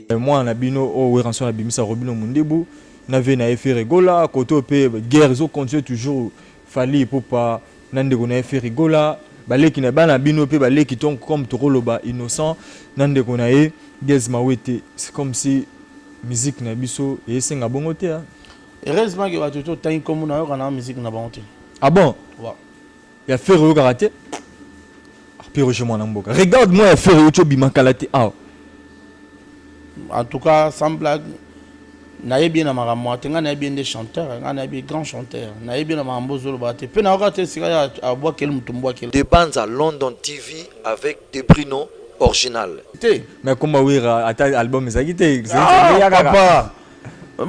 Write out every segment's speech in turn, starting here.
Eh, mwana na bino oyo oh, weranso abimisa robino mundibu na vie na ye ferigola kote oyo mpe guerre ezocontinue toujours fali epupa na ndeko na ye ferigola baleki na bana bino mpe baleki to comme tokoloba innocent na ndeko na ye gaz mawete c'est comme si musique na biso esenga bongo te heureusement ke bato totangi nkombo na yoka na musique na bango te ah bon ouais. Ya ferre oyokaka te Pierre Roger mwana mboka. Regarde moi ya ferre ocho bima kala te awa. En tout cas sans blague nayebi ye na makambo moko te ngai nayebi ye nde chanteur ngai nayebi grand chanteur nayebi ye na makambo ozoloba te mpe nayoka te esika ye abwakeli moto mbwakeli de banza london tv avec de bruno original te mais akoma wera ata album ezalaki te ah, papa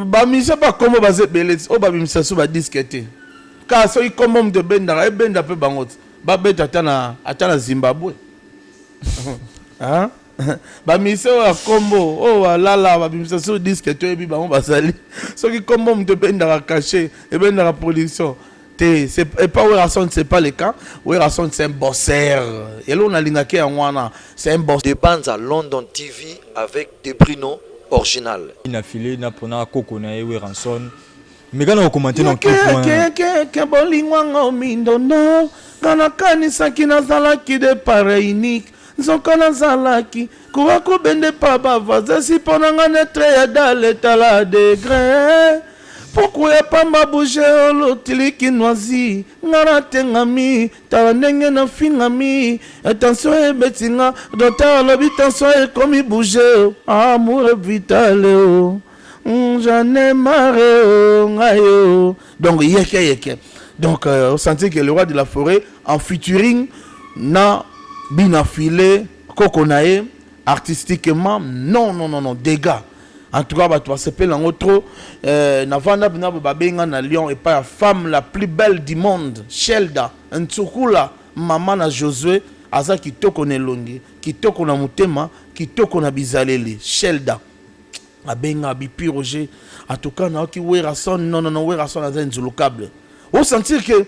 bamise bakombo baza ebele oyo babimisa so badisque te Kaka soki kombo moto ebendaka, ebenda pe bango ti babeta ata na ata na Zimbabwe. Hein? Ba musiciens oyo ya kombo oyo balala babimisa sur disque toyebi bango bazali. Soki kombo moto ebendaka cachet, ebendaka production te c'est et pas Werrason c'est pas le cas. Werrason c'est un bosseur. Eloko nalingaki yango wana c'est un bosseur. Debanza London TV avec Debruno Orginal. Ina filet na pona koko na ye Werrason meka na kokomante na kekekeke bolingo yango mindondo nga nakanisaki nazalaki de pareil unique nzoka nazalaki kuwa kobende pa bavazesi mpo na nga netre ya daletala degre puku ya pamba bouge olotiliki noisi nga natengami tala ndenge nafingami tension ebeti nga doter alobi tension ekomi bouge amour vitale o oh. Hum, j'en ai marre oh, ngai oh. donc yeke yeke donc euh, on sentit que le roi de la forêt en featuring na bina filet koko na ye artistiquement non non non non dégâts en tout cas bato basepeli yango trop euh, navanda mpena bo babenga na lyon epai ya femme la plus belle du monde shelda ntsukula mama na josue aza kitoko na elongi kitoko na motema kitoko na bizaleli shelda abenga bipi roger en tout cas nayoki werrason non non non werrason aza inzulukable o sentir que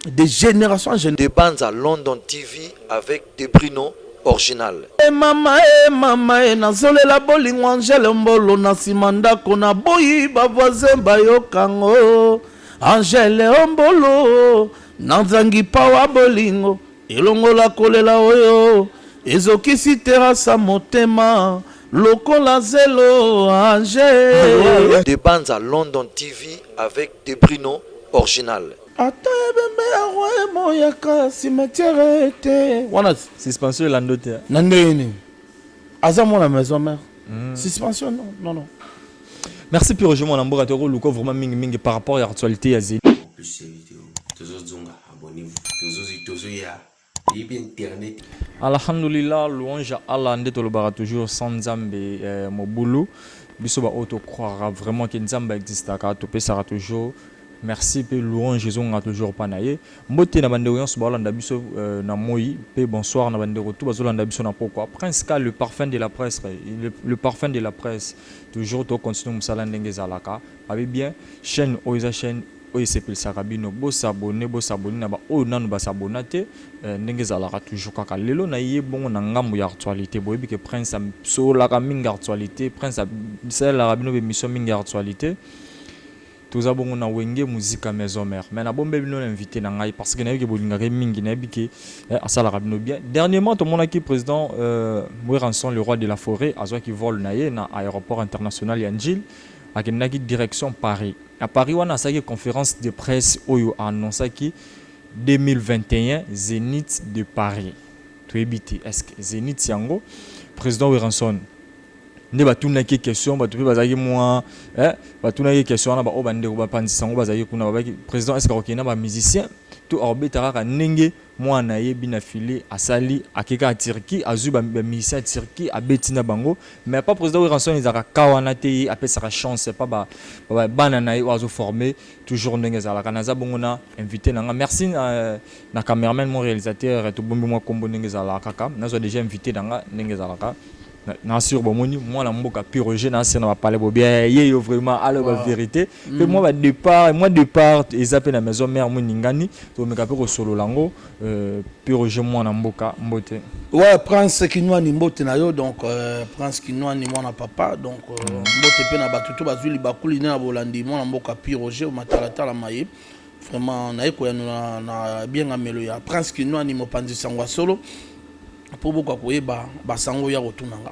de génération en génération de banza london tv avec de bruno original e mama e mama e nazolela bolingo angele mbolo na nsima ndako na boyi bavoisin bayokango angele ombolo nazangi pawa bolingo elongola kolela oyo ezokisi terasa motema lokola zelo age de banza london tv avec de bruno original ata ebembe ya roi emoyaka cimetière te wana suspension elando te na ndenge nini aza mwana maison mère mm. suspension non non non merci pire je mwana mboka tokoluka vraiment mingi mingi par rapport ya actualité ya zeli abonnez-vous tozozi tozoya yebi internet alhamdulillah louange à allah nde tolobaka toujours sans nzambe eh, mobulu biso baoyo tocroira vraiment ke nzambe existaka topesaka toujours merci mpe louange ezongaka toujours mpa na ye mbote na bandeko nyonso baolanda biso euh, na moi mpe bonsoir na bandeko tu bazolanda biso na pokwa prince ka le parfum de la presse le, le parfum de la presse toujours tocontinue mosala ndenge ezalaka abi bien chaîne oyo eza chaîne oyo esepelisaka bino bo s'abonner bo s'abonner na ba oyo nanu ba s'abonna te eh, ndenge ezalaka toujours kaka lelo na ye bongo na ngambu ya actualite boyebi ke prince asololaka mingi actualite prince asalelaka bino ba emission mingi actualite toza bongo na wenge muzika maison mère mais na bombe bino na invité na ngai parce que nayebi ke bolingaka ye mingi nayebi ke eh, asalaka bino bien dernièrement tomonaki président euh, Weranson le roi de la forêt azwaki vol na ye na aéroport international ya Njil Akendaki direction Paris. Na Paris wana asalaki conference de presse oyo a annoncaki 2021 Zenith de Paris. Toyebi te est-ce que Zenith yango président Werrason nde batunaki ye question bato mpe bazalaki mwa eh, batunaki ye question wana baoyo bandeko bapanzisa yango bazalaki kuna babaki président est-ce que akokende na bamusicien to akobeta kaka ndenge Muana ayebi na filet asali ake kaka Turquie azui ba musiciens ya Turquie abeti na bango mais epa president Werrason ezalaka cas wana te ye apesaka chance epa ba bana naye oyo azo former toujours ndenge ezalaka naza bongo na invite nanga merci na cameraman mon realisateur tobombi mua kombo ndenge ezalaka kaka nazua dejà invite nanga ndenge ezalaka. na sur bomoni mwana mboka piroge na se na bapale bobia ye yo vraiment aloba wow. verité mpe mm. mwa badépart mwa départ eza mpe na maison mare moningani tomeka mpe kosolola yango euh, piroge mwana mboka mbote ouais prince kinwani mbote na yo donc euh, prince kinwani mwana papa donc euh, mm. mbote mpe na bato to bazwi libakuli nde na bolandi mwana mboka piroge matalatala maye vraiment naye koyanola na biengamelo ya prince kinwani mopanzi sango ya solo po boka koyeba ba sango ya kotuna nga.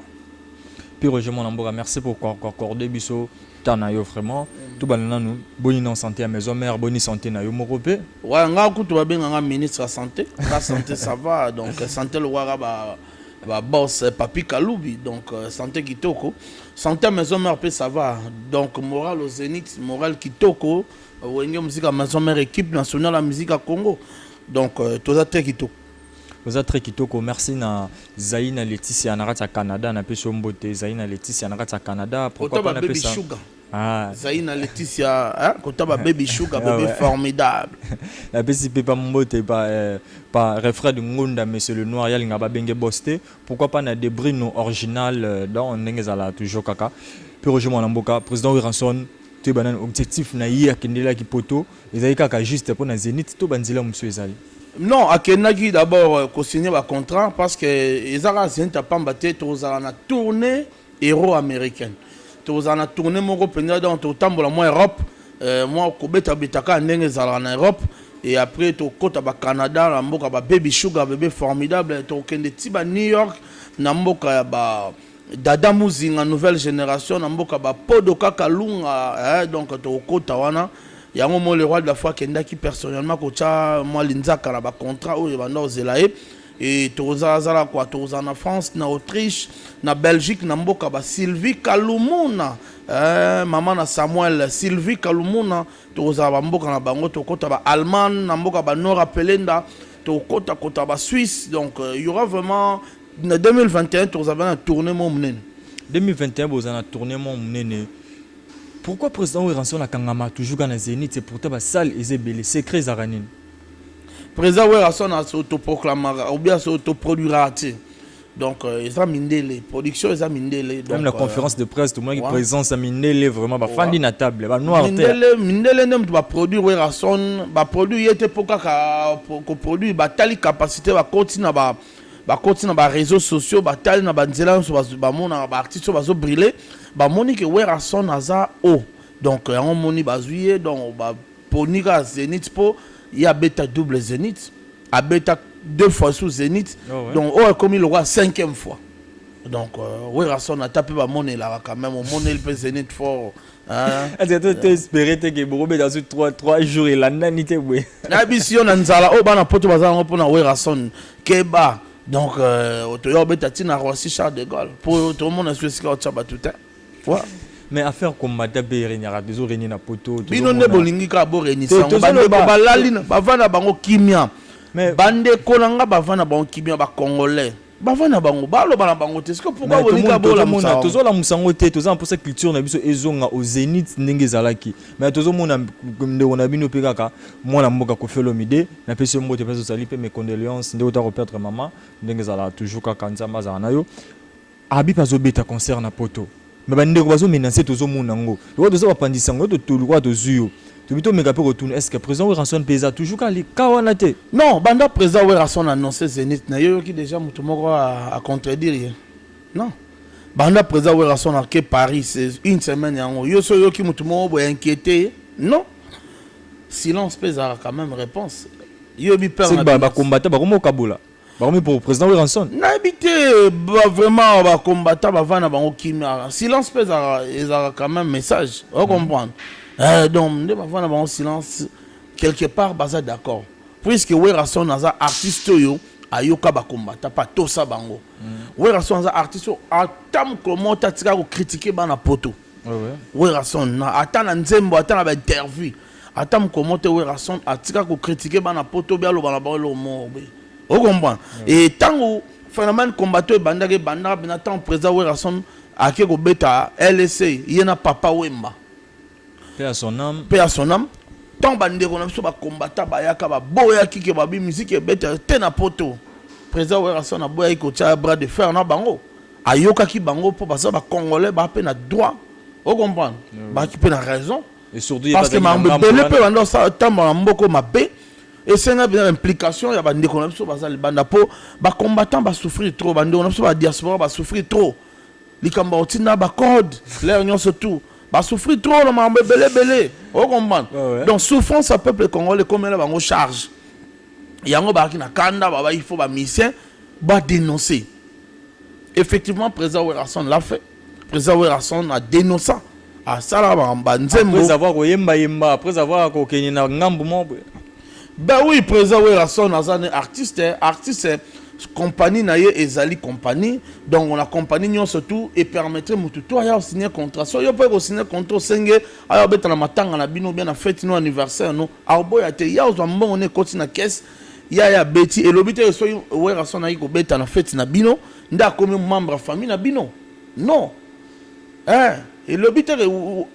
Pi Roger mwana mboka merci pour ko accorder biso temps na yo vraiment mm. tout bana nanu boni non santé ya maison mère boni santé na yo moko pe ouais nga kutu ba benga nga ministre ya santé la santé ça va donc santé le waka ba ba boss eh, papi kalubi donc euh, santé kitoko santé ya maison mère pe ça va donc moral au zénith moral kitoko wenge musique ya maison mère équipe nationale ya musique ya Congo donc euh, toza très kitoko Oza très kitoko merci na Zaina Laetitia na kati ya Canada na pesi mbote Zaina Laetitia na kati ya Canada pourquoi pas na pesa sugar ah Zaina Laetitia hein kota ba baby sugar ah bébé formidable na pesi pe pa mbote pa euh, pa Refred Ngunda monsieur le noir ya linga ba benge boste pourquoi pas na Debrino original euh, dans ndenge zala toujours kaka puis Roger Mwanamboka président Wiranson te banan objectif na ye akendelaki poto Ezali kaka juste mpo na Zenith to ba nzela mosusu ezali? Non, akendaki d'abord euh, ko signer ba contrat parce que eza kaka Zenith ya pamba te, tokozala na tournée euro américaine. Tokozala na tournée moko mpenza donc tokotambola mwa Europe, euh, mwa kobeta beta kaka ndenge ezalaka na Europe et après tokota ba Canada na mboka ba Baby Sugar bebe formidable, tokokende ti ba New York na mboka ya ba Dada muzinga nouvelle generation na mboka ba podo kaka lunga eh, donc tokokota wana yango mo le roi de la foi akendaki personnellement kotya mwa linzaka na ba contrat oyo ebanda kozela ye e tokozalazala kwa tokozala na france na autriche na belgique na mboka ba sylvie kalumuna eh, mama na samuel sylvie kalumuna tokozala bamboka na bango tokota ba allemagne na mboka ba nora pelenda tokota kota ba suisse donc euh, il y aura vraiment na 2021 tokozala bana tourne mwa monene 2021 boza na tourne mwa monene pourquoi président weranson akangama toujours ka na zénith pourtant basale eza ebele secret ezalaka nini président weranson asotoproclamaka obi asotoproduiraka te donc euh, eza mindele production eza mindele donc, même na euh, conférence de presse tomonaki ouais. présence ya mindele vraiment bafandi ouais. na table banoir mindele, mindele nde moto baproduire weranson baproduire ye te mpo kaka koproduire batali capacité bakoti na ba, ba bakoti na ba reseaux sociaux batali na ba nzela yonso bamonaka ba artistes oyo bazo briller bamoni ke Werrason aza haut donc yango omoni bazwi ye donc baponi kaka Zenith po ye abeta double Zenith abeta deux fois sous Zenith donc oyo ekomi lokola cinquième fois donc Werrason ata pe bamonelaka quand même omoneli pe Zenith fort Ah. Ati ata to espérer te que boko beta su 3 3 jours elandani te boye. Na bisi yo na nzala oyo oh, bana poto baza yango mpona Werrason keba donc euh, toya obeta ntina Roissy Charles de Gaulle mpo tomona su esika otya bato te. Voilà. mais affaire kombata mpe eregnaka tozo regne na poto bino nde bolingi kaka boregnisiyango bandeko balali bavanda bango kimia bandeko na nga bavanda bango kimia bacongolais bavanda bango baloba na bango te siko pourquoi bolinga bolamona tozolamusa yango te toza na mposa culture na biso ezonga au zenith ndenge ezalaki mais tozomona ndeko na bino mpe kaka mwana mboka kofelomide na pesi yo mbote mpe ozali mpe mes condoléances ndeko ta koperdre mama ndenge ezalaka toujours kaka nzambe azala na yo abi mpe azobeta concert na poto Mais ba ndeko bazo menacer tozo mona ngo. Lokola toza ba panzi sango to to lokola tozui yo. Tobi to meka pe ko tuna est-ce que president Werrason pe eza toujours ka ka wana te? Non, banda president Werrason annoncer Zenith na yo yoki dejà mutu moko a, a contredire ye? Non. Banda president Werrason a ke Paris c'est une semaine yango. Yo so yoki mutu moko bo inquiéter ye? Non. Silence pe ezalaka quand même reponse. Yo bi peur na. C'est ba combattant ba komo kabola. bakomi pour président Werrason nayebi te ba vraiment ba combattant bavanda na bango kimia silence mpe ezalaka quand même message ocomprendre mm. eh, donc nde bavanda na bango silence quelque part baza d'accord puisque Werrason aza artiste oyo ayoka bakombata mpe atosa bango mm. Werrason aza artiste oyo ata mokolo moko te atika kocritiquer bana poto mm. Werrason na ata na nzembo ata na ba interview ata mokolo moko te Werrason atika ko critiquer bana poto be aloba na bango eloko moko be okomprendre e ntango phénomène combattant ebandaki ebandaka mpenza ntango président Werrason ake kobeta LSA ye na papa Wemba Paix à son âme. mpe ya son âme ntango bandeko na biso bakombata bayaka baboyaki ke babi miziki ebeta te na poto président Werrason aboyaki kotia bras de fer na bango ayokaki bango po baza ba congolais ba pe na droit o comprendre mm. baki pe na raison et surtout parce que mambo ebele pe banda osala tambola na mboko mabe esenga bina implication ya bandeko na biso baza libanda po bacombattant basouffrir trop bandeko na biso ba diaspora basouffrir trop likambo otinda bacode lere nyonso tout basouffrir trop na mambo ebele ebele o comprendre ah ouais. donc souffrance ya peuple congolais ekomela bango charge yango bazalaki na kanda baba il faut bamisien badénoncer Effectivement president Werrason l'a fait president Werrason a denonça asala ba nzembo après avoir koyemba yemba après avoir kokende na ngambu moko boye ben oui president Werrason aza ne artiste artiste compagnie na ye ezali compagnie donc na compagnie nyonso tu epermettre motu to aya osigne contrat so yo mpe ekosigne contrat osenge aya obeta na matanga na bino bia na fete no anniversaire no aoboya te ya ozwa mbongo na ekoti na kese Yaya Betty elobi te soki Werrason ayi kobeta na fete na bino nde akomi membre ya famille na bino non eh, elobi te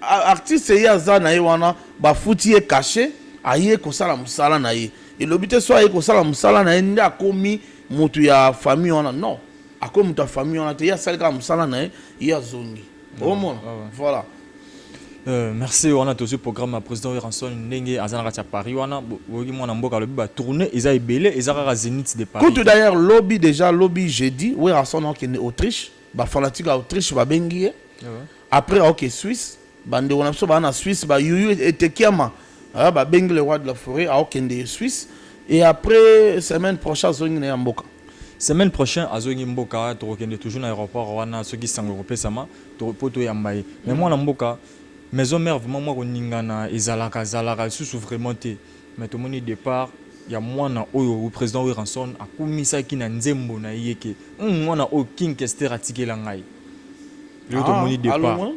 artiste ye aza na ye wana bafuti ye cachet aye kosala mosala na ye elobi te so aye kosala mosala na ye nde akomi motu ya famille wana non akomi motu ya famille wana te ye asali kaka mosala na ye ye azongi omona voilà Euh, merci wana tozwi programme ya président weranson ndenge aza na kati ya paris wana oyoki mwana mboka alobi batourne eza ebele eza kaka zenith de paris kutu d'ailleurs lobi déjà lobi jeudi weranson akende autriche bafanatique ya autriche babengi ye ah après aoke suisse bandeko na biso baa na suisse bayuyu etekiama ah, babengi le roi de la forêt aokende suisse et après semaine prochaine azongi na ya mboka semaine prochaine azongi mboka tokokende toujours na aéroport wana soki sango ekopesama to po to yamba ye mais mwana mboka maison mère vraiment mwa koningana ezalaka zalaka lisusu vraiment te mais tomoni départ ya mwana oyo président Werrason akumisaki na nzembo na ye ke hum, mwana oyo King Kester atikela ngai lelo tomoni ah, départ alongwa.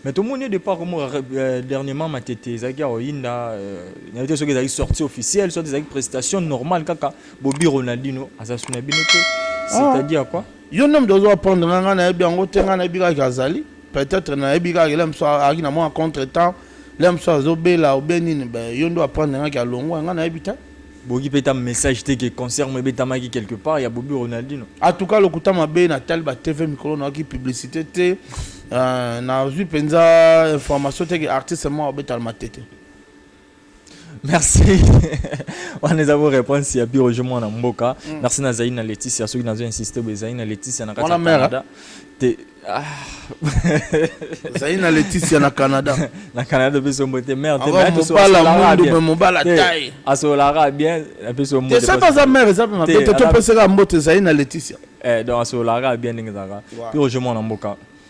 mais tomoni départ komo euh, dernièrement matete ezalaki ya oyinda euh, nayebi te soki ezalaki sortie officielle soit ezalaki prestation normale kaka bobi ronaldino aza suna bino te ah. c'est-à-dire quoi Yo nde moto ozo apprendre nga, nga nayebi yango te, nga nayebi kaka ke azali, peut-etre nayebi kaka ke lelo ya mosusu azalaki na mwa contre temps, lelo ya mosusu azo bela ou bien nini, ben yo nde o apprendre nga ke alongwa, nga nayebi te. Boyoki pe ata message te ke concert moko ebetamaki quelque part ya Bobi Ronaldino? En tout cas lokuta mabe, natali ba TV mikolo nayoki publicite te, nazwi penza information te ke artiste moko abeta na Matete. merci wana eza bo réponse ya biro je mwana mboka mm. merci nazali na leticia soki nazo insiste bo ezali na leticia na kati ya canada te ah. ozali na leticia na canada na canada opesi ombo te mare asolaka bien apesi ombote soki aza mare eza mpe mabe te topesaka mbote ezali na leticia eh, donc asolaka bien ndenge ezalaka mpe ojemona mboka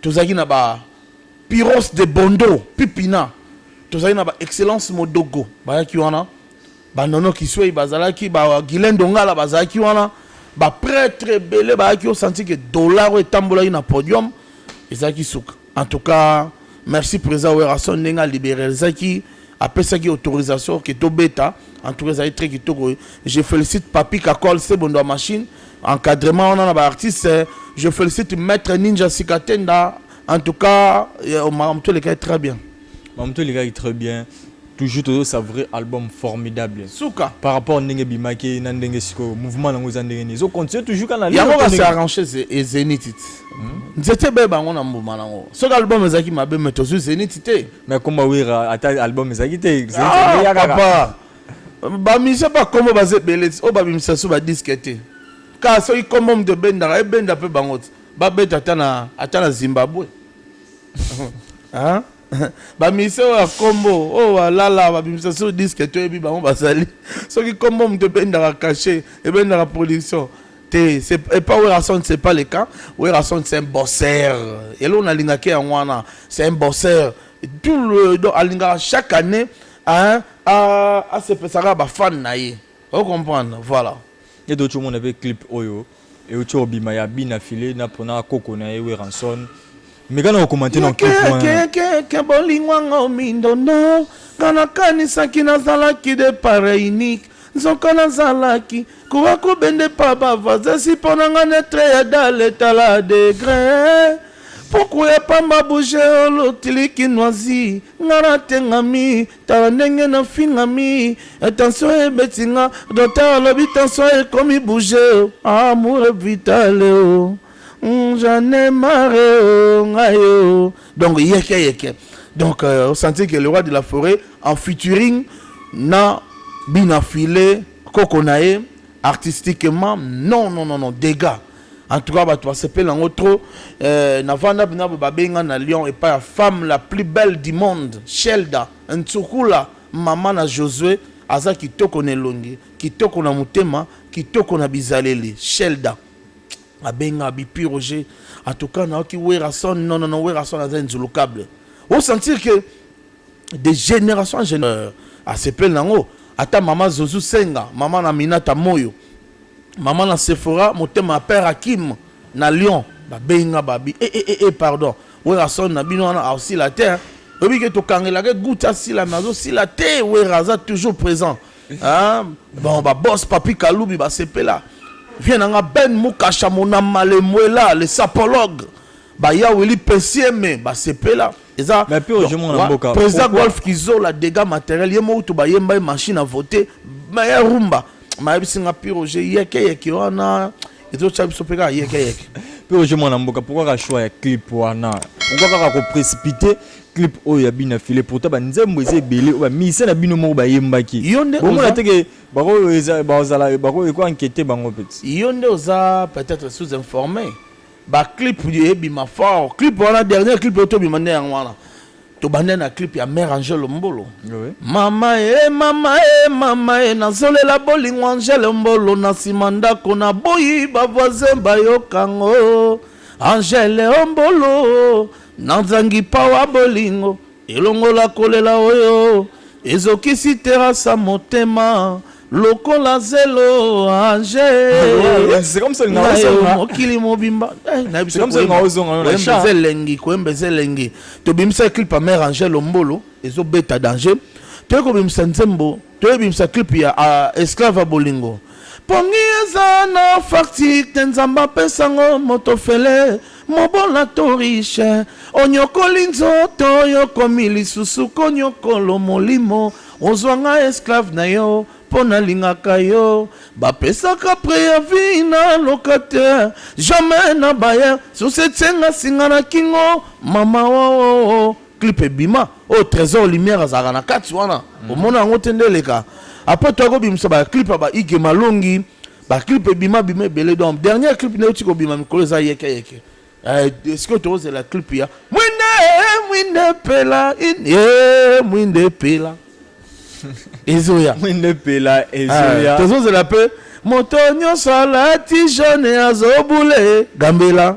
Tozalaki na ba Piros de Bondo, Pipina, tozalaki na ba Excellence Modogo bayaki wana, ba Nono Kisweyi bazalaki, ba Guylain Dongala bazalaki wana, ba pretres ebele bayaki, o sentir que dollar oyo etambolaki na podium ezalaki suka. En tout cas, merci President Werrason ndenge a liberalisaki, apesaki autorisation que tobeta, en tout cas ezali très kitoko. Je felicite Papy Kakol, Sebo Ndwa Machine, Encadrement wana na ba artistes, je félicite maître Ninja Sikatenda. En tout cas, euh, Mamto Lekai très bien. Mamto Lekai très bien. Toujours toujours sa vrai album formidable. Souka. Par rapport à Ndenge Bimake, Nandenge Siko, mouvement nango za Ndenge Nizo. Continue toujours kana. Yango ka se arranger et Zenith. Hmm? Nzete be bango na mbuma nango. Ce album ezaki mabe mais tozu Zenith te. Mais komba wira ata album ezaki te. Zenith ah, ya kaka. Papa. ba musiciens ba kombo baza ebele ti oyo babimisa so ba disque te kaka soki kombo moto ebendaka ebenda mpe bango ti babeta ata na ata na zimbabwe ba musiciens oyo ya kombo oyo balala babimisa so disque toyebi bango bazali soki kombo moto ebendaka cachet ebendaka production te epa werrason c'est pas le cas werrason c'est un bosseur eloko nalingaki yango wana c'est un bosseur tout le donc alingaka chaque année Hein a a sepesaka ba fan na ye o comprendre voilà. Edo otsho mona pe clip oyo eutsi obima ya bina filet na pona koko na ye weranson meka na kokomante na clip wana kekekeke bolingo yango mindondo nga nakanisaki nazalaki de pareil unique Nzoka na zalaki ko a ko bende pa ba voisins si pona nga netre ya dale tala degre Puku ya pamba bouge olo tiliki noisi nga na tengami tala ndenge na fingami Tension ebeti nga docteur alobi tension ekomi bouge Amour vitale oh J'en ai marre oh nga yo donc yeke yeke donc euh, osanti que le roi de la forêt en featuring na bina filet koko na ye artistiquement non non non non dégâts en tout cas bato basepeli yango trop euh, navanda mpena bo babenga na lyon epai ya femme la plus belle du monde shelda nsukula mama na josue aza kitoko na elongi kitoko na motema kitoko na bizaleli shelda abenga bipi roger atuka nayoki werrason non non non werrason aza inzulukable osentir que de génération en génération euh, asepeli nango ata mama zozu senga mama na minata moyo mama na sephora motema ya père akim na lyon babenga babi e, e, e, e, pardon werrason na bino wana aosila te oyebi ke tokangelaka gouta asila me azosila te werra aza toujours présent Ah, bon, ba boss Papi Kalubi ba sepela. Viens nanga Ben Mukasha mona malemuela le sapologue. Ba ya Willy Pesieme ba sepela. Eza Mais puis aujourd'hui mon mboka. Président Golf Kizola dégâts matériels yemo utu ba yemba machine à voter. Mais ya rumba. Ma yebisi nga piro je yeke yeke wana. Ezo tsa biso peka yeke yeke. Piro je mwana mboka pourquoi ka choix ya clip wana? Pourquoi kaka ko précipiter clip oyo ya bina file pourtant ba nzembo eza ebele oyo ba musicien na bino moko ba yembaki bongo na teke bako eza ba zala bako eko enquête bango petit yo nde oza peut-être sous informé ba clip ye bima fort clip wana dernier clip oyo to bima nde yango wana to banda na clip ya mère Angèle Mbolo oui. mama e mama e mama e nazolela bolingo Angèle Mbolo na sima ndako na boyi ba voisin bayokango Angèle Mbolo Nazangi power bolingo elongola kolela oyo ezokisi terasa motema lokola zelo age mokili mobimba elengi koyemba eza elengi tobimisa clip ya mare angel ombolo ezobeta danger toyekobimisa nzembo Toye bimisa clip ya a esclave ya bolingo. Pongi eza na facture te nzambe apesa ngo moto ofele mobola to riche onyokoli nzoto yo okomi lisusu konyokolo molimo ozwa nga esclave na yo mpo nalingaka yo bapesaka preavis na locataire jamais na bayer susi etie nga singa na kingo mama oo oh, oh, oh. clip ebima oyo trésor lumière azalaka na kati wana omona yango te nde eleka après toya kobimisa baclip ya ba ige malongi baclip ebima bima ebele donc dernière clip nde euti kobima mikolo eza yeke yeke Eh, sikoyo tokozela clip ya mwinde mwinde pela in- eh, mwinde pela ezoya mwinde epela Ah, ezoya tozozela mpe moto nyonso alati jaune azobule gambela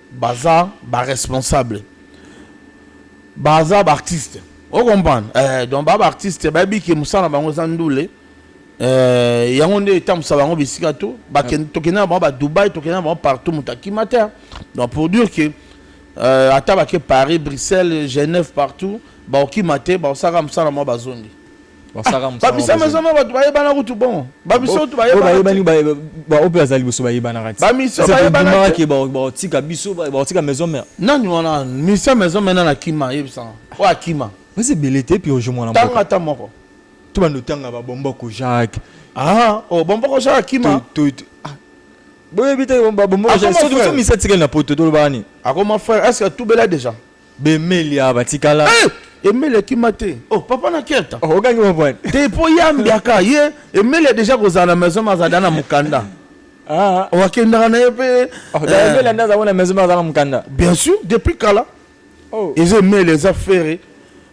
Baza ba responsable baza ba artiste o comprendre eh, donc ba ba artiste bayebi ke mosala na bango eza ndule eh, yango nde etambusa bango bisika to tokende na bango ba Dubai tokende na bango partout moto akima te donc pour dire que euh, ata bake Paris Bruxelles Genève partout baokima te baosalaka mosala na bango bazongi babisama zama bato bayebana kutu bon babiso tu bayebani baoyo mpe bazali liboso bayebanaka bamiso bayebanake baotika biso baotika maison mare nani wana misa maison mare nani akima ayebisaka oyo akima baza ebele te mpe ojo mwana ntango ata moko to bando otanga babomboko jacques ah o oh, bomboko jacques akima ah. boyebi te babomboko jacques soki misa tikali na poto tolobani akoma frère est ce que atubela déjà Bemelia batikala. Eh! Emelia kima te. Oh, papa na keta. Oh, okangi mwa bwana. Te po ye ambiaka ye Emelia deja kozala na maison mais azala na mukanda. Ah. Oh, akendaka na ye pe. Oh, eh. Emelia nda azala na maison mais azala na mukanda. Bien sûr, depuis kala. Oh. Eza Emelia eza ferre.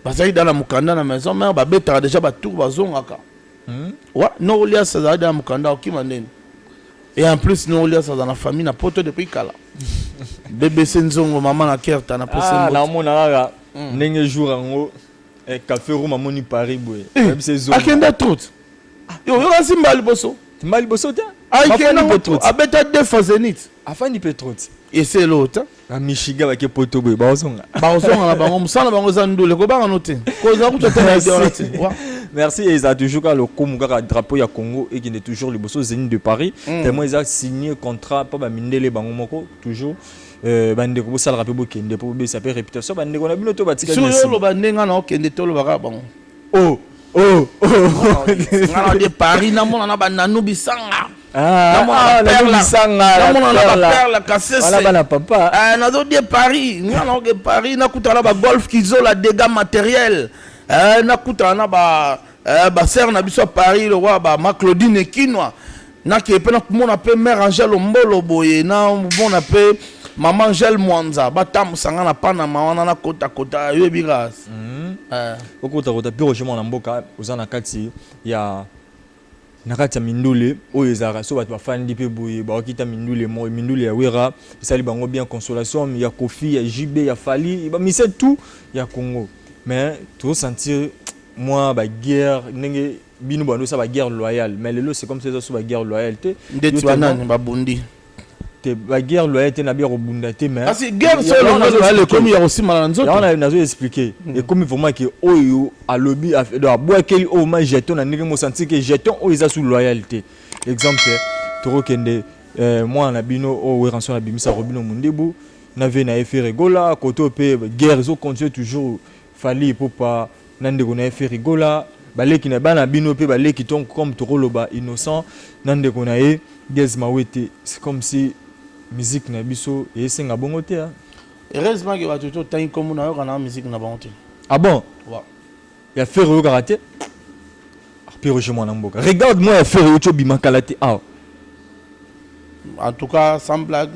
Bazali da na mukanda na maison mère babetaka deja ba tour bazongaka. Hmm? Wa, Nolias azalaki na mukanda okima nini? Et en plus Nolias aza na famille na poto depuis kala. BBC Nzongo mama na Kerta na posi ah, na mona kaka hmm. ndenge jour yango eh, café room amoni Paris boye. Eh, Akenda trop. Ah. Yo yo kasi mbali boso. Mbali boso te? Aikenda trop. Abeta deux fois Zenith. Afandi pe trop. Et c'est l'autre. na michigan bake poto boye baozonga baozonga na bango mosala na bango eza ndule kobanga no te kozala kutu ata na idea wana te merci eza toujours kaka lokumu kaka drapeau ya congo ekende toujours liboso zeni de paris mm. tellement eza signé contrat mpo bamindele bango moko toujours euh, bandeko bosalaka mpe bokende mpo bobesa mpe réputation bandeko na bino to batikalioloba ndenge na okende tolobaka bango Oh, oh, oh. nga na de paris namona na bananu bisanga Ah, ah, Nanu Bisanga, la namona na Perla. baperle kasese Wana bana papa. Eh, nazo de paris nga naoke paris nakutana na bagolf kizola dégâts matériel Eh, nakutana na ba eh, basere na biso ya paris lokola ba ma claudine ekinwa nakeye mpe nakomona mpe mare angel ombolo boye namona mpe mama angel mwanza batambusa nga na panama wana nakotakota yoyebi ka mhm. eh. okotakota mpe roger mwana mboka oza na kati ya na kati ya mindule oyo ezalaka so bato bafandi mpe boye bakokita mindule moi mindule ya wera esali bango bien consolation ya kofi ya jb ya fali bamise tout ya congo mais tozosentir mwa baguerre ndenge bino bando sa ba guerre loyale mais lelo c'est comme ça eza so ba guerre loyale te ndeti ba nani ba bundi te ba guerre loyale te na bia kobunda te mais asi guerre so longo loyale ekomi ya kosimana na nzoto yango nazo expliquer hmm. ekomi vraiment ke oyo alobi donc abwakeli oyo ma jeton na ndenge mosanti ke jeton oyo eza sous loyale te exemple tokokende eh, mwana na bino oyo oh, weranson abimisaka bino mondebu na vie na ye feregola koto mpe guerre ezocontinue toujours Fally Ipupa na ndeko na ye Ferry Gola baleki na bana bino pe baleki ton comme tokoloba innocent na ndeko na ye Gez Mawete c'est comme si musique na biso esenga bongo te hein heureusement que bato to tangi kombo na yoka na musique na bango te ah bon ouais. ya Ferry oyokaka te Pierre Roger mwana mboka. Regarde moi ya Ferre Ocho bima kala te awa. En tout cas sans blague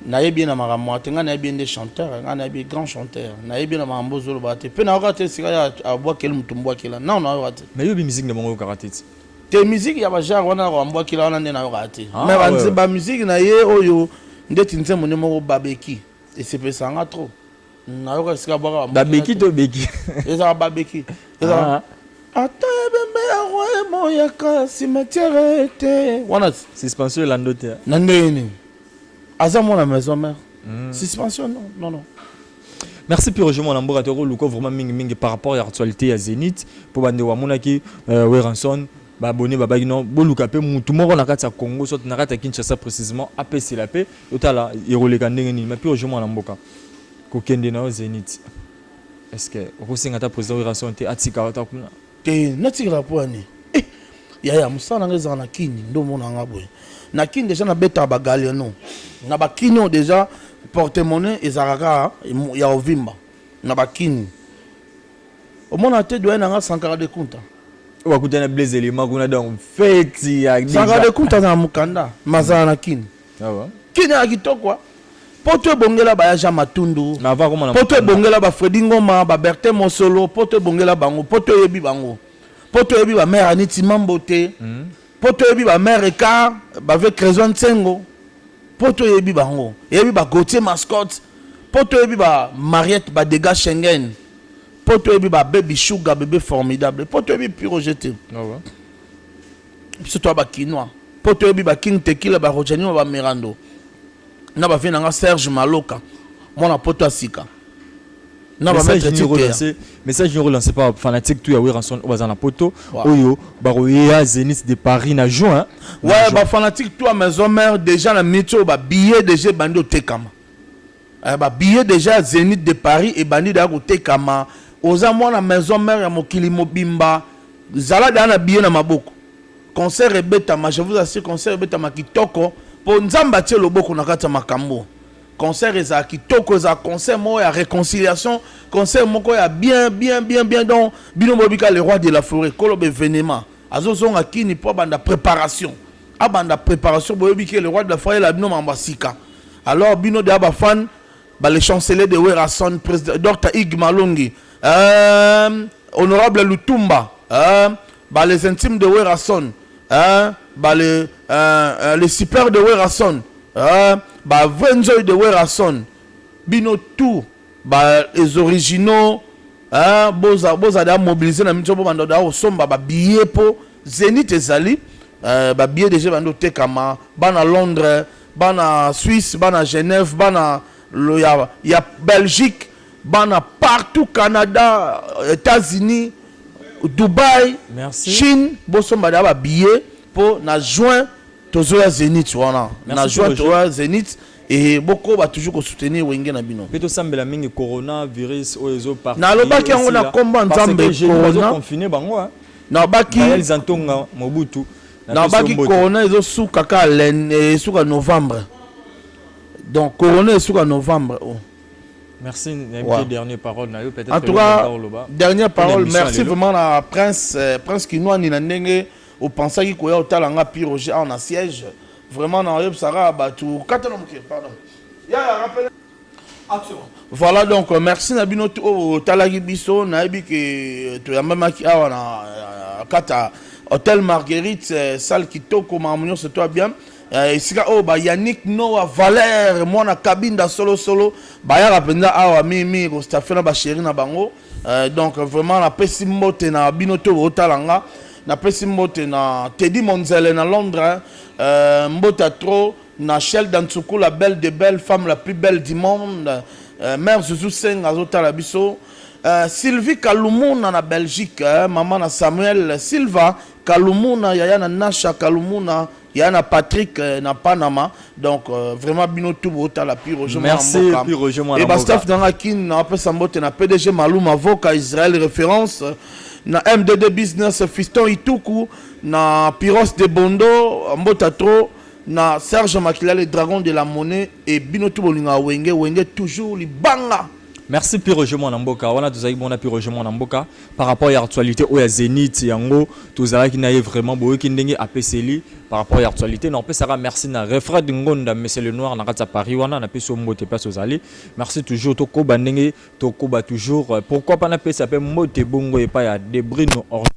nayebi ye na makambo te ngai nayebi ye nde chanteur ngai nayebi ye grand chanteur nayebi ye na makambo ozoloba te mpe nayoka te esika ya abwakeli moto mbwakela nao nayoka te mais yobi miziki na bango oyokaka te ti te miziki ya bajare wana nakoka mbwakela wana nde nayokaka te ah, mais bamiziki na ye oyo ndeti nzembo nde moko babeki esepelisa nga trop nayoka esika abwaka ba babeki to beki ezala babeki ezala ah. ata ebembe ya roi emoyaka cimetière te wana suspension elando te na ndenge nini aza mwana maison mère hmm. suspension non non non merci pire je mwana mboka tokoluka vraiment mingi mingi par rapport ya actualité ya zénith mpo bande wamonaki euh, weranson Ba abonnes babaki non boluka pe mutu moko na kati ya Congo soit na kati ya Kinshasa precisement apesela pe totala ekoleka ndenge nini mais pure jeu mwana mboka kokende na yo Zenith est-ce que okosenga ata president Werrason te atika ata kuna te natikala po ani eh, yaya mosala na ngai ezala na kini nde omona nga boye na kini deja nabetaka bagaliano na bakini oyo deja porte-monnaie ezalaka kaka ya ovimba na bakini Omona te doyen na nga Sankara de Kunta. Oyo bakutani na Blaise Elima kuna donc feti ya deja. Sankara de Kunta na mukanda mazala na Kin. Ah bon? Kin ya kitoko. Hein? poto ebongela baya jean matundu poto ebongela bafredi ngoma babertin mosolo poto ebongela bango poto eyebi bango poto eyebi bamare aniti mambo te hmm. Poto oyebi ba mère Ecart, ba ve Crezon Nsengo, poto oyebi bango, eyebi ba Gauthier Mascotte, poto oyebi ba Mariette ba Degas Schengen, poto oyebi ba Baby Sugar, Bebe Formidable, poto oyebi Piroger te. Awa. Biso toa ba Kinois, poto oyebi ba King Tequila, ba Rojanima, ba Mirando, na ba vie na nga Serge Maloka, mwana poto ya sika. na ba maître titre message nyo relancer par fanatique tout ya Werrason oyo baza na poto oyo bakoyeya Zenith de Paris na juin ouais ba fanatique tout à maison mère déjà na minute oyo ba billets déjà bandi otekama eh, ba billets déjà Zenith de Paris et bandi da kotekama oza mwana maison mère ya mokili mobimba zala da na billet na maboko concert ebetama je vous assure concert ebetama kitoko po nzambe atie loboko na kati ya makambo Concert ezala kitoko ezala concert moko ya reconciliation concert moko ya bien bien bien bien donc bino boyebi ka le roi de la forêt kolo bevenema azozonga kini mpo abanda préparation abanda préparation boyebi ke le roi de la forêt la bino mambo ya sika alors bino deya bafan ba le chancelier de werrason président dr ig malongi euh, honorable lutumba euh, Ba les intimes de Werrason hein, ba le euh, le super de Werrason hein, ba vrai nzoy de Werrason bino tout ba les originaux hein, boza boza da mobiliser na mitso bo bando da osomba ba billets po Zenith ezali euh, ba billets déjà bando tekama bana Londres bana Suisse bana Genève bana lo ya, ya Belgique bana partout canada etats-unis dubai Merci. chine bosomba deya babillet mpo na juin tozoya zenith wana Merci na juin Roger. toya zenith e bokoba toujours kosoutenir wenge na bino mpe tosambela mingi corona virus oyo ezo parti Nalobaki yango na esila. kombo ya Parce que Nzambe, jeudi corona. bazoconfine bango hein. nabaki Daniel Zantonga Mobutu napesi yo nabaki mbote. corona ezosuka ka len- esuka novembre donc corona esuka novembre oh. Merci, ouais. dernière parole na yo peut-être. En tout cas, dernière parole, merci vraiment à Prince, euh, Prince Kinois ni na ndenge au pensaki koya otala nga piroger en siège. Vraiment na yeb sara batu katana muke, pardon. Ya ya rappel. Action. Voilà donc euh, merci na bino au talaki biso na yebi ke euh, to yambamaki awa na kata Hôtel Marguerite, salle kitoko mamunyo se toi bien. Eh, esika oyo ba yannick noa valere mwana kabinda solosolo bayaka mpenza awa mingimingi kostafe na basheri na bango eh, donc vraiment napesi mbote na bino to bootala nga napesi mbote na tedi monzele na londres eh, mbota trop na shelda nsuku la belle de belle femme la plus belle du monde mare zuzu senga azotala biso Uh, sylvie kalumuna na belgique eh, mama na samuel silva kalumuna yaya na nasha kalumuna ya na Patrick euh, na Panama donc euh, vraiment bino tout bo tala pi Roger Mwana Merci Mboka pi Roger Mwana Mboka et ba staff nanga kin na pesa mbote na PDG Maluma Voka Israël référence na MDD business Fiston Ituku na Piros de Bondo mbota trop na Serge Makila le dragon de la monnaie et bino tout bolinga wenge wenge toujours libanga Merci Pierre Roger mwana mboka wana tozalaki mona Pierre Roger mwana mboka par rapport ya actualité oyo ya Zenith yango tozalaki na ye vraiment boyoki ndenge apeseli par rapport ya actualité na opesaka merci na Refred Ngonda Monsieur le Noir na kati ya Paris wana na pesi mbote place ozali merci toujours tokoba ndenge tokoba toujours euh, pourquoi pas na pesa pe mbote bongo epa ya Debrino Orlando